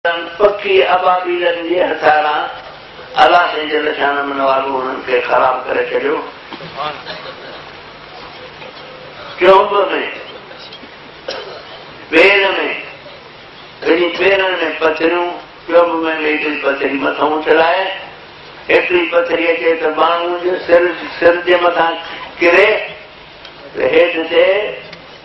تن پکي ابابيلن جي هٿياران الله جي جل شانه من والو انهن کي خراب ڪري ڇڏيو. ڪيوب ۾ پير ۾ ٻنهي پيرن ۾ پٿريون، ڪيوب ۾ به هڪڙي پٿري مٿو اڇلائي، هڪڙي پٿري اچي ته ٻانهن جي سر سر جي مٿان ڪري ته هيٺ ٿئي.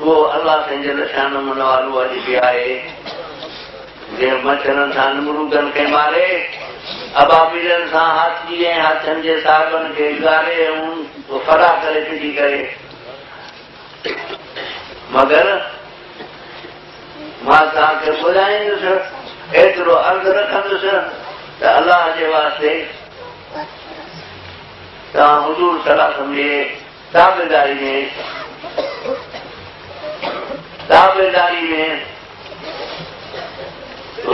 اهو الله سائين جي نشان من والو اڄ به آهي، جنهن مڇرن سان نمرودن کي ماري، ابابيلن سان هاٿي ۽ هاٿين جي صاحبن کي اڳاري ۽ ڦرا ڪري ڦٽي ڪري. مگر مان توهان کي ٻڌائيندس، ايترو عرض رکندس ته الله جي واسطي توهان حضور صلعم جي دعويداري ۾ دعويداري ۾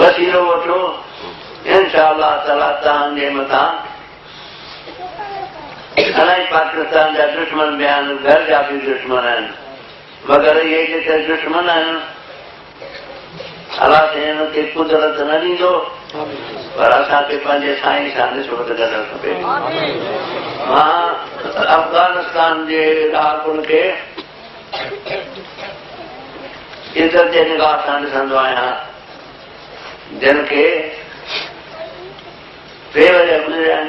وسيلو وٺو انشاء الله تعالي تان جي متان الاهي پاڪستان جا دشمن به آهن گهر جا به دشمن آهن مگر اهي جيڪي دشمن آهن الله ڪنهن کي قدرت نه ڏيندو پر اسان کي پنهنجي سائين سان نسبت ڪرڻ کپي مان افغانستان جي رهاڪن کي عزت جي نگاهه سان ڏسندو آهيان جن کي بي وجہ گذريا آهن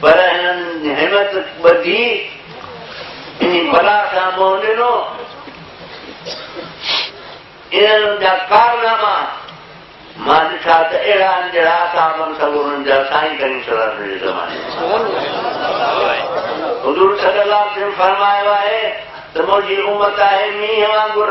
پر هنن همٿ ٻڌي انهي بلا کان منهن ڏنو. انهن جا ڪارناما مان ڏٺا ته اهڙا آهن جهڙا اصحابن سگهور انهن جا سائين ڪريم صلي الله عليه وسلم جي زماني حضور صلي الله عليه وسلم فرمايو آهي ته منهنجي امت آهي مينهن وانگر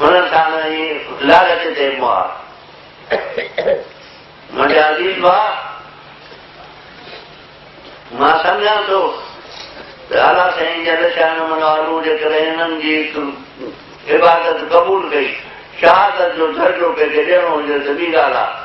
هن ساڻ ئي لالچ تي مار منڊيا عزيز ڀاء مان سمجهان ٿو ته اعليٰ سائين جل شاء نه منو آلو جي ڪري هنن جي عبادت قبول ڪئي شهادت جو درجو ڪنهن کي ڏيڻو هجي ته ٻي ڳالهه آهي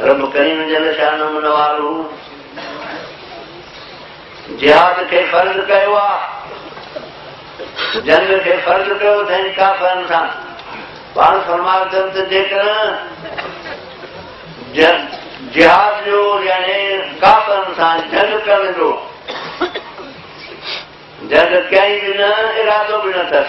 رب ڪريم جل شانه منوارو جهاد کي فرض ڪيو آهي جنگ کي فرض ڪيو اٿائين ڪافرن سان پاڻ فرما اٿن ته جيڪر جهاد جو يعني ڪافرن سان جنگ ڪرڻ جو جنگ ڪيائين به نه ارادو به نه اٿس